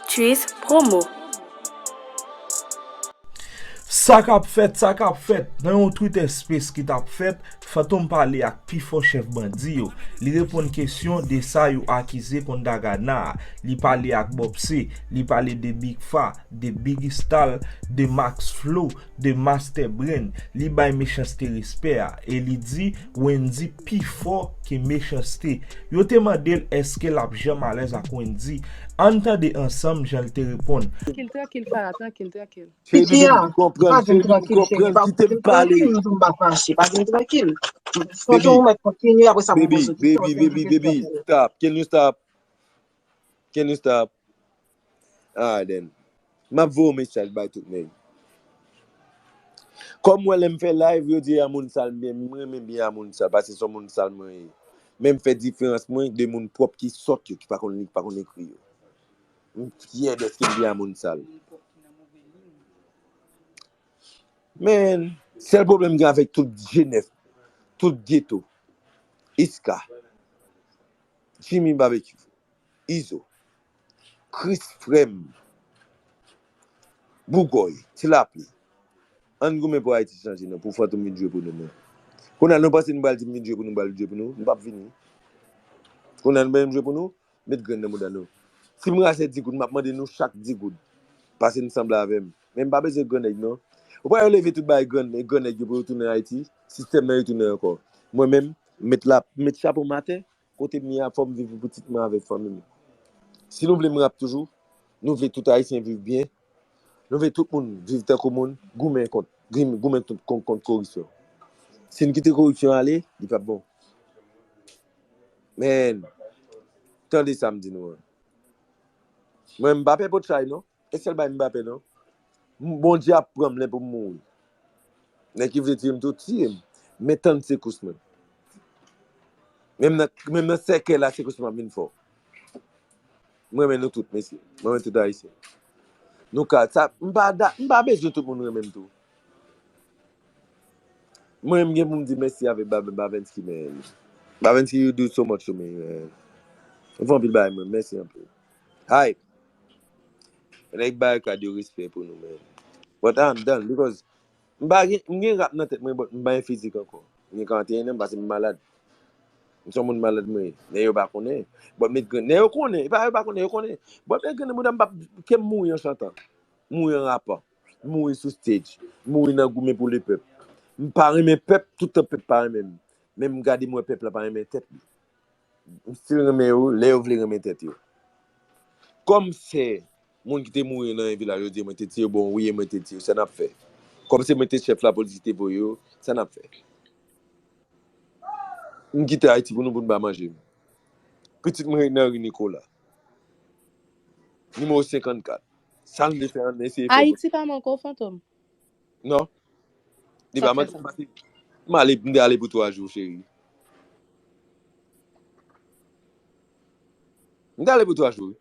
Tchuiss promo. Sa k ap fèt, sa k ap fèt? Nan yon Twitter Space ki t ap fèt, Fantom pale ak pi fò chèf bandi yo. Li reponn kesyon de sa yo akize kont Da Gana a. Li pale ak Bob C. Li pale de Big Fa, de Biggy Stall, de Max Flow, 2 master brain li bay mechanste respè a e li di Wendy pi fò ke mechanste yo te mande l eske lap janm alèz ak Wendy ann tande ansanm jan l te reponn. Kil trankil fara trankil trankil. Feyby menm li konprann feyby li konprann kitem pale baby baby baby baby stop can you stop can you stop. Ah Aden. Map voye w mesaj bay tout neg. Kom wè lem fè live yo di a moun sal men m renmen byen a moun sal pase son moun sal mwen ye. Men m fè diferans mwen de moun pwop ki sot yo ki pa konn li ki pa konn ekri yo. M fyè deske m byen a moun sal. Man, sel pwoblem m gen avek tout jenès, tout geto. Iska. Jimmy Babekyou. Izo. Kris frèm. Bougòy. Ti lapli. Ann goumen pou Ayiti chanje non pou Fantom vin jwe pou nou non. Kounye a nou panse nou pral di m vin jwe pou nou m pral jwe pou nou? M pap vini. Kounye a nou bezwen m jwe pou nou? Met grenn nan mouda nou. Si m rachè 10 goud m ap mande nou chak 10 goud. Pase n sanble avè m. Men m pa bezwen gran nèg non. Ou pa wè yo leve tout bagay gran nèg gran nèg yo pou yo tounen Ayiti? Sistèm nan yo tounen ankò. Mwen menm m met la m met chapo m atè Kote m ye a fòm viv pou pitit mwen avèk fanmim. Si nou vle m rap toujou, nou vle tout ayisyen viv byen, nou vle tout moun viv tankou moun, goumen kont goumen kont koripsyon. Si n kite koripsyon ale, li pap bon. Men, tande sa m di nou an. Mwen m pa pè potchay non. E sèl bay Mbappé non. Bondye ap pranm lè poum mouri. Nèg ki vle tiyem tou tiyem. Men tann sekous mwen. Menm nan sèkèy la sekous mwen ap vin fò. M renmen nou tout mesye. M renmen tout ayisyen. Nou ka sa m pa da m pa bezwen tout moun renmenm tou. Mwen m gen poum di mèsi avèk Babenski men Babenski you do so much to me. Ou fè anpil bagay mwen mèsi anpil. Hype. Fè nèg Barikad yo respè pou nou menn. But I'm done because m pa gen, m gen rap nan tèt mwen but m pa gen fizik ankò. M gen 41 an pase m malad. M son moun malad mwen ye. Nèg yo pa konnen. But met grenn. Nèg yo konnen. E pa yo pa konnen, yo konnen. But met grenn nan bouda m pap, ke m mouri an chantan. M mouri an rapan. M mouri sou stage. M mouri nan goumen pou le pèp. M pa renmen pèp, toutan pèp pa renmen m. Men m gade m wè pèp la pa renmen tèt li. M still renmen yo lè yo vle renmen tèt yo. Kòm se moun ki te mouri nan yon vilaj yo di mwen te tiye bon wi e mwen te tiye sa nap fè. Kòm se mwen te chèf lapolis ki te voye yo sa nap fè. M kite Ayiti pou nou pou nou pa manje m. Pitit mwen nan ri Nikola. Nimewo 54. Sa m vle fè an eseye fè m. Ayiti pa m ankò fantom. Non. Li pa manti. M ale, m de ale pou 3 jou cheri. M de ale pou 3 jou.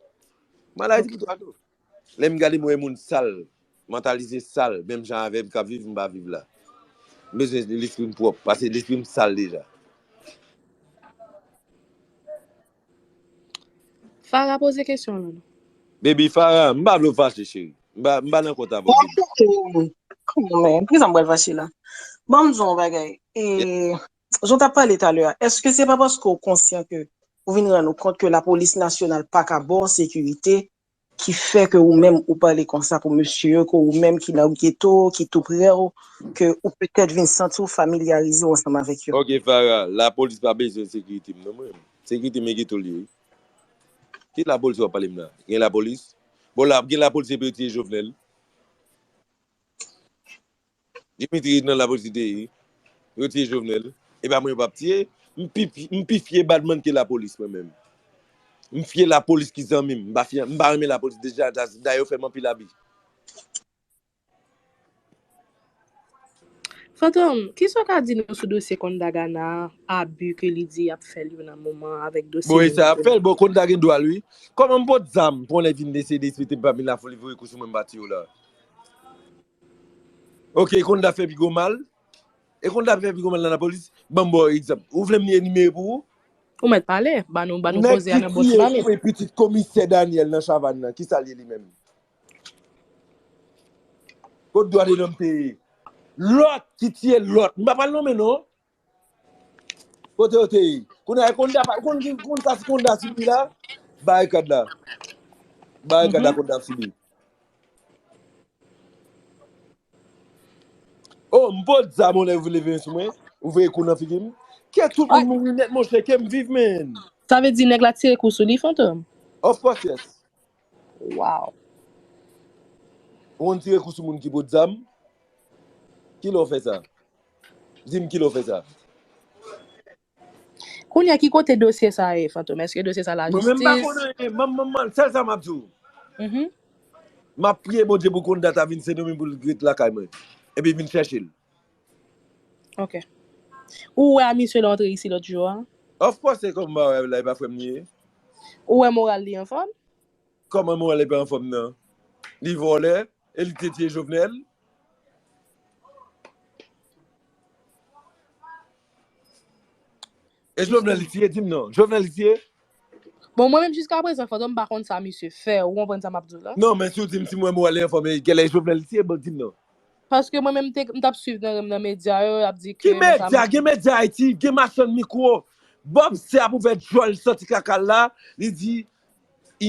M ale pou 3 jou. Lè m gade m wè moun sal, mantalize sal, menm jan avè m kap viv m pa viv la. M bezwen lespri m pwòp, pase lespri m sal deja. Farah poze kesyon w Nono. Baby Farah, m pa vle w fache cheri. M pa nan kont avè w baby. Mwen koute w. Come on man, poukisa m pral fache la? Ban m di w yon bagay, e jan w t ap pale talè a, èske se pa paske w konsyan ke ou vin rann ou kont ke lapolis nasyonal pa ka ba w sekirite ki fè ke ou menm ou pale konsa pou mesye yo ke ou menm ki nan ghetto ki tou prè w ke ou petèt vin santi w familyarize w ansanm avèk yo. Ok Farah, lapolis pa bezwen sekirite m non mwen menm. Sekirite m e ghetto l ye wi. Ki lapolis wap pale m la? Gen lapolis? Bon la ap gen lapolis epi yo tiye Jovenel? Dimitri nan la police te ye. Yo tiye Jovenel. E pa mwen yo pap tiye. M pi m pi fye badman ke la police mwen menm. M fye la police ki zanmi m. M pa fye m pa renmen la police deja das da yo fè m anpil abi. Fantom, ki sa w ka di nou sou dosye Kondagana a, abi ke li di y ap fè l yo nan moman avèk dosye Bon e sa y ap fè l, bon Konda gen dwa l wi. Kòman m pot zam pou yon lè vin desede, sou te m pa vin lafoulivre kou sou mwen m pa tiye w la. Ok e konn da fè pi gwo mal. E konn da fè pi gwo mal nan la polis. Banm ba w egzanp. Ou vle m enimere pou ou? Ou mèt pale. Ba nou ba nou Nèg koze a ki nan bon ti tiye pale. koupe pitit komisè Daniel nan chavann nan ki sa l ye li menm? Kot dwa de lòm te ye? Lòt ki tiye lòt. M pa pral nonmen non. Kote yo te ye? Kounye a, Konda pa, ou konn ki, ou konn sa ti Konda sibi la? Barikad la. Barikad la Konda ap sibi. Oh, m pot zam yon lè vin leve men sou mwen. Ou veye kou nan figi m. Ke tout moun mouri nèt monchè, ke m viv men. Sa vle di nèg la tire kou sou li, Fantom? Of course yes. Waww. Ou konn tire kou sou moun ki pot zam? Kilè w fè sa? Di m kilè w fè sa? Kounye a ki kote dosye sa ye Fantom? Eske dosye sa Mwen menm m pa lajistis? konnen anyen. M'en m'en m'en sèl sa m'ap di w. Mhm. M'ap priye Bondye pou konn dat a vin Sendoming pou l ret lakay mwen. Epi vin chèche l. Ok. Ou wè a misye lè w antre isi lòt jou a? Of course se kòman mwen wè l la e pa frè m li ye. Ou wè moral li anfòm? Kòman moral li pa anfòm nan? Li vòlè e li te tiye Jovenel. E Jovenel li t ye dim non. Jovenel li t ye? Bon mwen menm jiska prezan fantom pa konn sa misye fè ou konprann sa map diw la. Non men si w dim si mwen mwen al enfòme gèlè Jovenel li t ye bon dim non. Paske mwen menm m tap swiv nan nan medya yo yap di ke Ki nan sa medya? Gen medya Ayiti, gen machann mikwo. Bob se ap ouvè djòl santi kaka l la, li di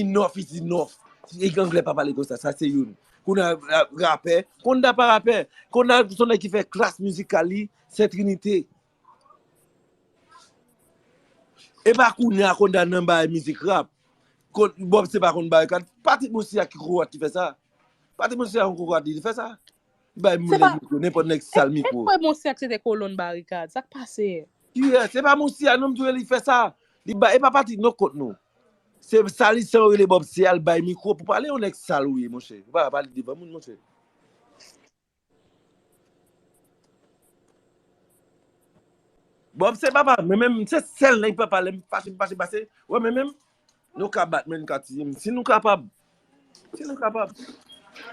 enough is enough. Nèg anglè pa pale konsa, sa se youn. Kounye a rapè, Konda pa rapè. Konda son nèg ki fè klas mizikal li Sen Trinite. Epa kounya konda nan bay mizik rap. Bob se pa konn bay kad. Patrick Mousty a ki kokorat ki fè sa? Patrick Mousty a yon kokorat li fè sa? Li bay moun nèg mikro, nenpòt nèg sal mikro. Epa Mousty a ki se te kolonn barikad. Sak pase? Kiyès? Epa Mousty a non m di w li fè sa. Li bay, epa Patrick non kont nou. Se salisan yo rele Bob se al bay mikro pou pale yon nèg sal ou ye monchè. Ou pa pale devan moun monchè. Bob se papa mwen menm, se sèl nèg papa lèm fache m fache pase, wè mwen menm, nou ka bat mwen, nou ka tiye m, si nou kapab, si nou kapab.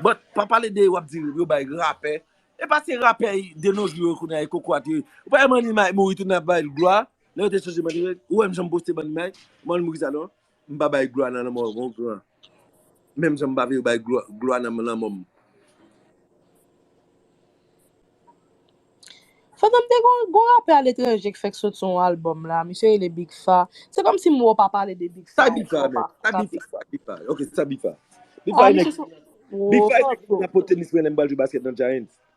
But, pa pale de wap di yo bay rapè, e pa se rapè de nos jours yo kounye a e kokorat yo ye. Ou pa wè Money Mike mouri tout le moun ap ba l glwa, lè yo te chanje Money Mike, ou wè m janm poste Money Mike, m'en l mouri sa non. M pa bay glwa nan lanmò yon gran, menm jan m pa vle bay glwa nan lanmò m. Fantom te gen yon rapè aletranje k fèk sot sou yon album la, misye rele Big Faa. Se kom si m wè w pa pale de Big Faa anko. Sa Big Faa menm? Sa Big Faa? Sa Big Faa? Ok, sa Big Faa? Big Faa e nèg ki nan po tenis mwen lè m pral jwe basket nan Giants.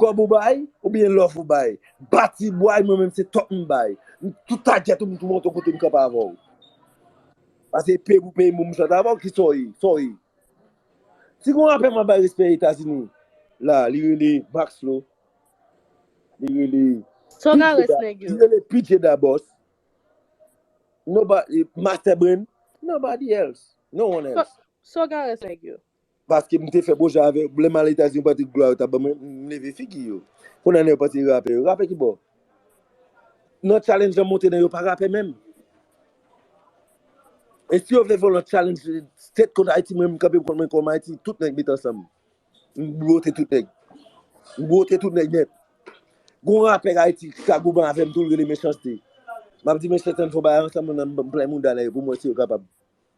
Kòb ou bay ou byen love ou bay Bati bway mwen menm se top m bay Tout taget ou m tou monte kote m kanpe avè w Pase pay pou pay m pou m chante avè w Kisa w ye? Sa w ye? Si gon rapè map bay respè etazini la li rele Max Flow Li rele Li rele PJ Da Boss Master Brain Nobody else No one else Sa w ka res nèg yo? Paske m te fè bon jan avè yo. Lè m al Etazini yon pati glwa yo ta ban mwen, m leve figi yo. Kounye a nan yon pati rapè yo. Rapè ki bo? Nan challenge an monte nan yo pa rapè menm. E si yo vle fè lòt challenge State kont Ayiti mwen menm m kanpe m kont mwen kòm Ayiti tout nèg met ansanm. M bwote tout nèg. M bwote tout nèg nèt. Gon rapè Ayiti ki ka goumen avè m tou l rele Mechans-T. M ap di Mechans-T an n fè yon bagay ansanm m plen mouda nan yo pou m wè si yo kapab.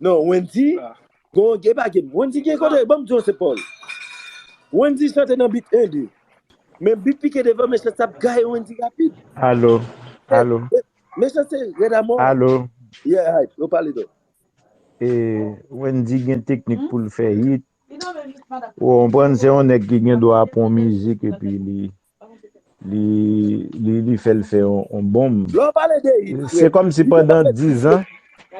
Non Wendy gon gen pa gen Wendy gen kote banm di yon se paw Wendy chante nan beat 1 2 men beat pike devan mechanste ap gaye Wendy rapid Alo alo mechanste rèd amò alo yeah hype yo pale dò. E Wendy gen teknik poul fè hit ou konprann se yon nèg ki gen dwa pran mizik epi li Li fèl fè yon bonm. Se kòm si pandan 10 an.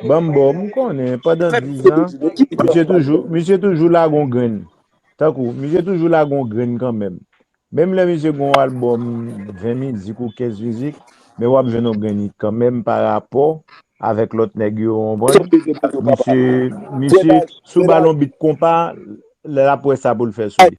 Banm bo m konnen pandan 10 an. Misye toujou lage yon grenn. Tankou misye toujou lage yon grenn kanmenm. Menm lè misye gen yon albòm 20 mizik ou 15 mizik. Men wap jwenn yon grenn hit kanmenm pa rapò avèk lòt nèg yo ou konprann. Misye sou balon bit konpa lè lap wè sa poul fè sou li.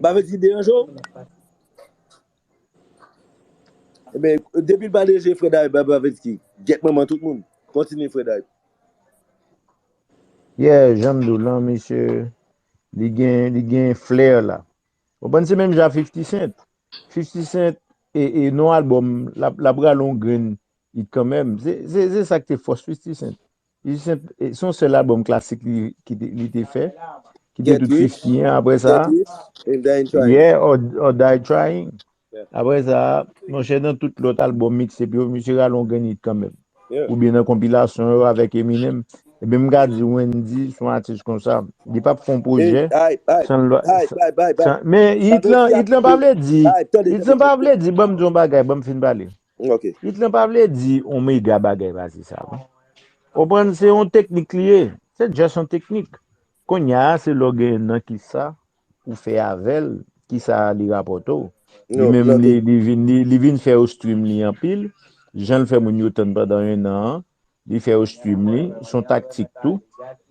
Barbecue deranje w? Ebyen, depi l pa deranje frè Dayou bay Barbecue. Gyèt manman tout moun. Kontinye frè Dayou. Yeah, jan m di w lan misye li gen li gen flair la. Ou konprann se menm jan a 50 Cent. 50 Cent e nou album l ap rale yon grenn hit kanmenm. Se sa k te fòs 50 Cent. Jisent, se yon sèl albòm klasik li te fè, ki te tout 50 an apre sa. Get Rich and Die Trying. Yeah, or Die Trying. Apre sa, monchè nan tout lòt albòm mixtape yo, misye rale yon grenn hit kanmenm. Oubyen nan konpilasyon yo avèk Eminem. Ebyen m ka di Wendy se yon atis konsa, li pap fè yon pwojè san l. Men hit lan, hit lan pa vle di, hit lan pa vle di, banm di yon bagay, banm fin pale. Ok. Hit lan pa vle di yon mega bagay pase sa non. Konprann se yon teknik li ye. Se just yon teknik. Konnya se lè w gen nan kisa ou fè avè l, kisa li rapòte w. Li Non, menm ok. li li vin li li vin fè yo stream li anpil, jan l fè moun yo tann pandan 1 an an, li fè yo stream li, s on taktik tou.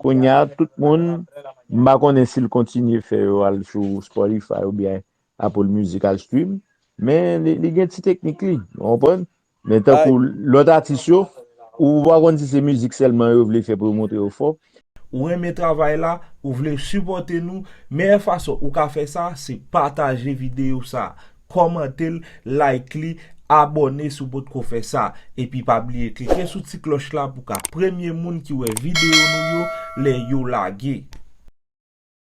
Konnya tout moun m pa konnen si l kontinye fè yo al sou Spotify oubyen Apple music al stream men li gen ti teknik li ou konprann men tankou lòt atis yo ou pa konn si se mizik sèlman yo vle fè pou yo montre yo fò. Ou renmen travay la, ou vle sipòte nou, meyè fason ou ka fè sa se pataje videyo sa, kòmante l, like li, abòne si w potko fè sa, epi pa bliye klike sou ti klòch la pou w ka premye moun ki wè videyo nou yo lè yo lage.